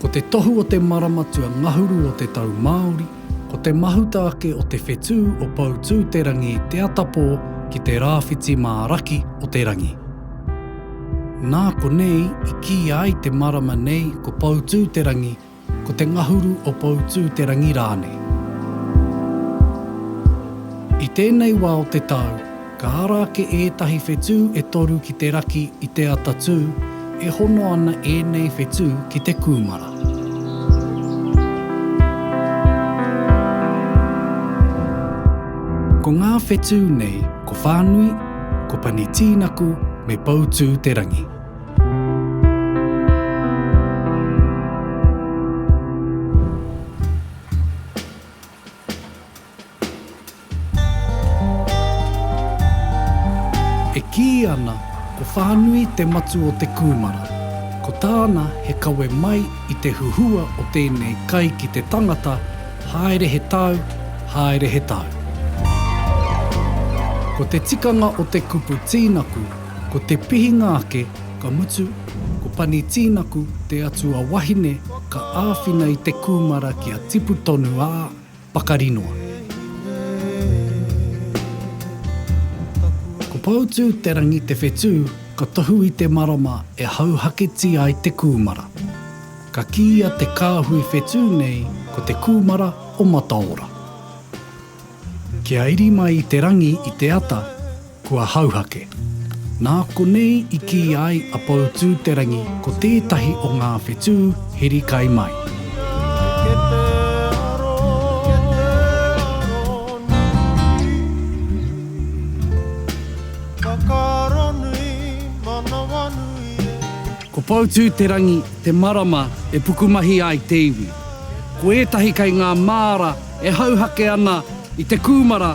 Ko te tohu o te maramatua ngahuru o te tau Māori, ko te mahuta ake o te whetū o Poutū-te-rangi te atapō ki te rāwhiti mā raki o te rangi. Nā konei i kīia ai te marama nei ko Poutū-te-rangi, ko te ngahuru o Poutū-te-rangi rānei. I tēnei wā o te tau, ka ara ake ētahi whetū e toru ki te raki i Te Atatū, e hono ana ēnei whetū ki te kūmara. Ko ngā whetū nei ko Whānui, ko Pani Tīnaku me Poutū Te Rangi. E kī ana ko Whānui te matu o te kūmara, ko tāna he kawe mai i te huhua o tēnei kai ki te tangata haere he tau, haere he tau. Ko te tikanga o te kupu tīnaku ko te pihinga ake ka mutu ko Pani Tīnaku te atua wahine ka āwhina i te kūmara kia tipu tonu ā, pakari noa. Ko Poutū-te-rangi te whetū ka tohu i te marama e hauhaketi ai te kūmara. Ka kīia te kāhui whetū nei ko te kūmara o Mataora. Kia iri mai i te rangi i te ata, Kua hauhake. Nā konei i kī ai a Poutū-te-rangi ko tētahi o ngā whetū he rikai mai. Ko Poutū-te-rangi te marama e pukumahi ai te iwi. Ko ētahi kei ngā māra e hauhake ana i te kūmara,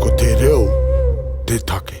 Ko te reo te take.